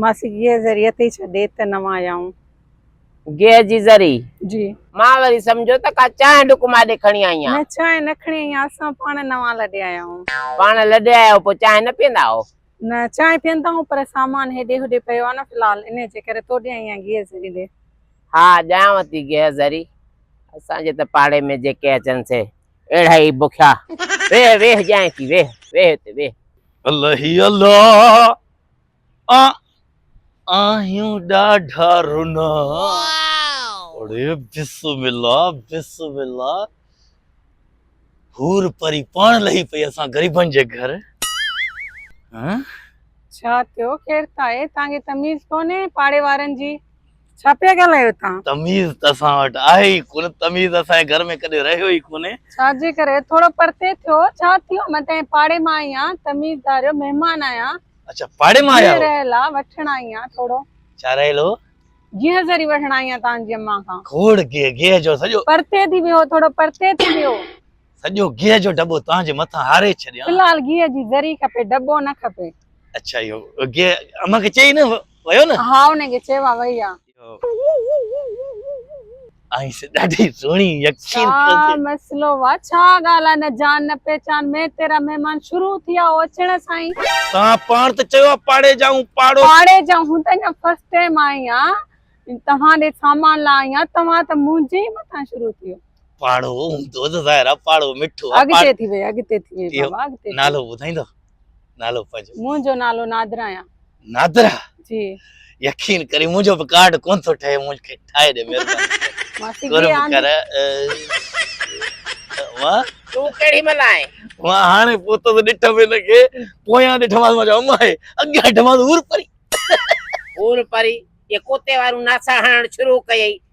ماسي گيهه ذري اٿئي ڇا ڏي ته نوان يائون. گيهه جي ذري؟ جي. مان وري سمجهيو ته ڪا چانهه ڊڪ ماڏي کڻي آئي آن. نه چانهه نه کڻي آئي آن اسان پاڻ نوان لڏي آيا آهون. پاڻ لڏي آيا آهيو پوء چانهه نه پيئندا آهو؟ نه چانهه پيئندا آهون پر سامان هيڏي هوڏي پيو آهي نه في الحال انهي جي ڪري توڏي آئي آهيان گيهه ذري ڏي. ها ڏيانو ٿي گيهه ذري اسان جي ته پاڙي ۾ جيڪي اچن سي. اهڙا ئي بکيا. ويهه ويهه ڄائين ٿي ويهه ويهه اتي ويهه. الهي الله آء آهيون ڏاڍا رنا. اڙي بسم الله بسم الله حور پري پاڻ لهي پئي اسان غريبن جي گهر ها. ڇا ٿيو ڪير ٿا اي تانکي تميز ڪونهي پاڙي وارن جي. ڇا پيا ڳالهايو توهان. تميز ته اسان وٽ آهي ئي ڪونه تميز اسان جي گهر ۾ ڪڏهن رهيو ئي ڪونه. ڇا جي ڪري ٿورو پرتي ٿيو ڇا ٿيو مان تنهنجي پاڙي مان آئي آهيان تميز ڌاريو مهمان آهيان. اڇا پاڙي مان آيا هو. جي رهيل آ وٺڻ آئي آهيان ٿورو. ڇا رهيل هو. گيهه ذري وٺڻ آئي آهيان توهان جي اماء کان. کوڙ گيهه گيهه جو سڄو. پرتي ٿي ويهو ٿورو پرتي ٿي ويهو. سڄو گيهه جو ڊٻو توهان جي مٿان هاري ڇڏيان. في الحال گيهه جي ذري کپي ڊٻو نه کپي. اڇا اهو گيهه اماء کي چئي نه. ويو نه ها انهي کي چئي وا وئي آ. آهين سي ڏاڍي سهڻي يقين ڇا ڪر تي. مسئلو وا ڇا ڳالهه آ نه جان نه پهچان مين تيرا مهمان شروع ٿي آ او اچڻ سان ئي. توهان پاڻ ته چيو آ پاڙي جا هون پاڙو. پاڙي جا هون ته اڃا فرسٽ ٽيم آئي آ توهان ڏي سامان لا آئي آ توهان ته منهنجي ئي مٿان شروع ٿيو. پاڙو هوندو ته ظاهر آ پاڙو مٺو آ. اڳتي ٿي ويئي اڳتي ٿي ويئي بابا اڳتي ٿي ويئي. نالو ٻڌائيندو. نالو پنهنجو منهنجو نالو نادرا آهيان نادرا جي يقين ڪري منهنجو به ڪارڊ ڪون ٿو ٺهي مونکي ٺاهي ڏي مهرباني ماسي جي ڪرم آندي ڪر وا تون ڪهڙي مهل آئين وا هاڻي پوتو ته ڏٺ به نه کي پويان ڏٺ ماس مجا اما هي اڳيان ڏٺ ماس هور پري هور پري يا ڪوتي وارون ناسا هڻڻ شروع ڪيئي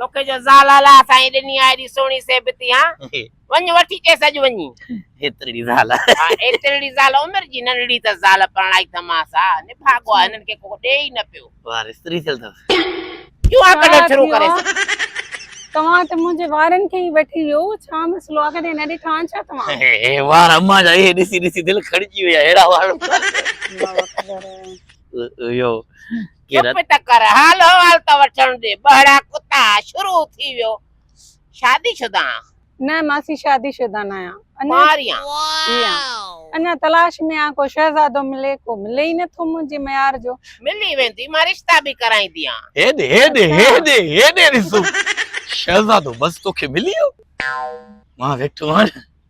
توکي جو زال الله سائين ڏني آ ايڏي سهڻي سيبتي ها وڃ وٺي چيس اڄ وڃي ايترڙي زال ايترڙي زال عمر جي ننڙي ته زال پرڻائي ٿماس ها نڀاڳو آ هنن کي ڪو ڏي ئي نه پيو وار استري ٿيل ٿس جوان ڪڍڻ شروع ڪري توهان ته منهنجي وارن کي ئي وٺي ويو ڇا مسئلو آ ڪڏهن نه ڏٺا آهن ڇا توهان هي وار امان جا هي ڏسي ڏسي دل کڙجي ويا اهڙا وار اهو ڪيرت. چپ ته ڪر، حال احوال ته وٺڻ ڏي. ٻهڙا ڪتا، شروع ٿي ويو. شادي شده آهان؟ نه ماسي شادي شده ناهيان. ڪنواريان. جي آن. اڃا تلاش ۾ آهان ڪو شهزادو ملي. ڪو ملي ئي نه ٿو منهنجي ميار جو. ملي ويندي، مان رشتا به ڪرائينديان. هيڏي هيڏي هيڏي هيڏي ڏسو شهزادو بس توکي ملي ويو. مان ويٺو آهيان.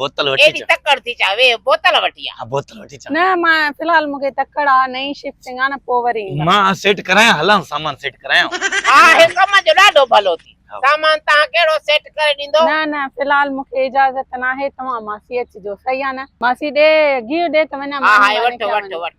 بوتل وٺي ايڏي تڪڙ ٿي چا وي بوتل وٺي آ بوتل وٺي چا نه ما في الحال مونکي تڪڙ آ نئين شفٽنگ آ نه پو وري ما سيٽ ڪرايا هلان سامان سيٽ ڪرايا ها هي ڪم جو ڏاڍو ڀلو ٿي سامان تا ڪهڙو سيٽ ڪري ڏيندو نه نه في الحال مونکي اجازت نه آهي توهان ماسي اچ جو صحيح آ نه ماسي ڏي گيو ڏي ته وڃا ها ها وٺ وٺ وٺ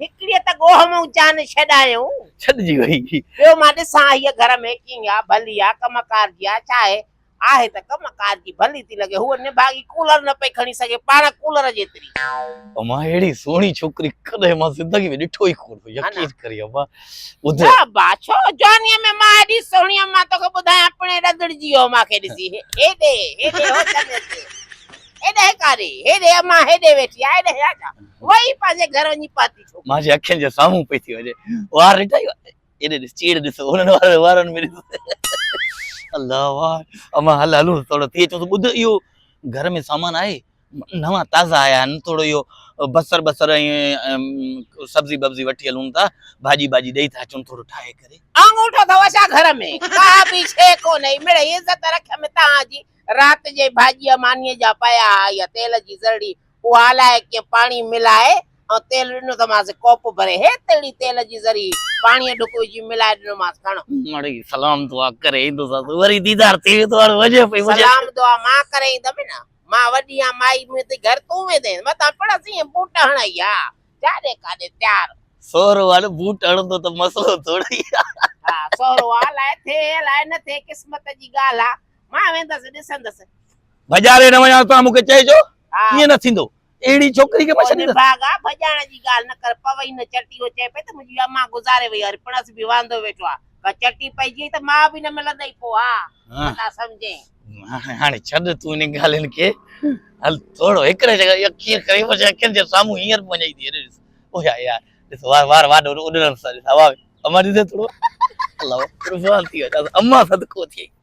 هڪڙيء ته ڳوهه مون جان ڇڏايئون. ڇڏجي وئي. ٻيو مان ڏسان هيء گهر ۾ ڪيئن آ، ڀلي آ، ڪم ڪار جي آ، ڇا آهي؟ آهي ته ڪم ڪار جي ڀلي ٿي لڳي. هوء نڀاڳي ڪولر نه پئي کڻي سگهي، پاڻ ڪولر جيتري. امان اهڙي سهڻي ڇوڪري ڪڏهن مان زندگي ۾ ڏٺو ئي ڪونه هو. يقين ڪري امان. ٻڌ. نه ابا، ڇو؟ جوانيء ۾ مان ايڏي سهڻي هئم، مان توکي ٻڌايان پڻهين رڌڙجي ويو هو مان کي ڏسي. هيڏي، هيڏي هو چڱي ٿي. ايڏهه ڪاري، هيڏي امان هيڏي ويٺي آ، ايڏهه يا ڇا؟ وئي پنهنجي گهر وڃي پاتي ڇوڪري. مان جي اکين جي سامهون پئي ٿي وڃي. وار ڏٺئي؟ ايڏي ڏس، چيڙ ڏس، هنن وارن وارن ۾ ڏس. الله وار، امان هل هلون ٿورڙو ٿي اچون ته ٻڌ اهو گهر ۾ سامان آهي؟ نوان تازا آيا آهن، ٿورڙو اهو بصر بصر ۽ سبزي ببزي وٺي هلون ٿا، ڀاڄي ٻاڄي ڏئي ٿا اچون ٿورڙو ٺاهي ڪري. آڱوٺو اٿئو ڇا گهر ۾؟ ڪا به شيء ڪونهي، مڙئي عزت رکيم تان جي، رات جي ڀاڄيء مانيء جا پيا ها يا تيل جي ذرڙي، اها الائي ڪيئن پاڻي ملائي ۽ تيل ڏنو ته مانس ڪوپ ڀري هيت تهڙي تيل جي ذرڙي، پاڻيء ڍڪ وجهي ملائي ڏنو مانس کڻ. مڙئي سلام دعا ڪري ايندوسانس، وري ديدار ٿي ويندو هاڻي وڃي پئي. سلام دعا مان ڪري ايندم نه، مان وڏي آهيان مائي مون ٿي گهر تون ويندينء متان پڙس ايئن بوٽ هڻ اهي ها جاڏي ڪاڏي تيار. سهرو هاڻي بوٽ هڻندو ته مسئلو ٿورڙي ها. ها سهرو ها الائي ٿئي الائي نه ٿئي قسمت جي ڳالهه ها مان ويندس ڏسندس. ڀڄاري نه وڃان توهان مون کي چئجو ڪيئن نه ٿيندو اهڙي ڇوڪري کي مان ڇڏي نه. نڀاڳا ڀڄائڻ جي ڳالهه نه ڪر پوي نه چٽي هو چئي پئي ته منهنجي امان گذاري وئي آهي پڻس به واندو ويٺو آهي ڪا چٽي پئجي وئي ته ماء به نه ملندئي پوء ها ڀلا سمجهين. هاڻي هاڻي ڇڏ تون انهن ڳالهين کي هل ٿورو هڪڙي جڳهه جي اکين کڻي وڃ اکين جي سامهون هينئر به وڃي ٿي هيڏي ڏس او يار يار ڏس وار وار واڏو اڏرن سان ڏس هوا امان ڏسي ٿورو الله قربان ٿي وڃان امان صدقو ٿئي.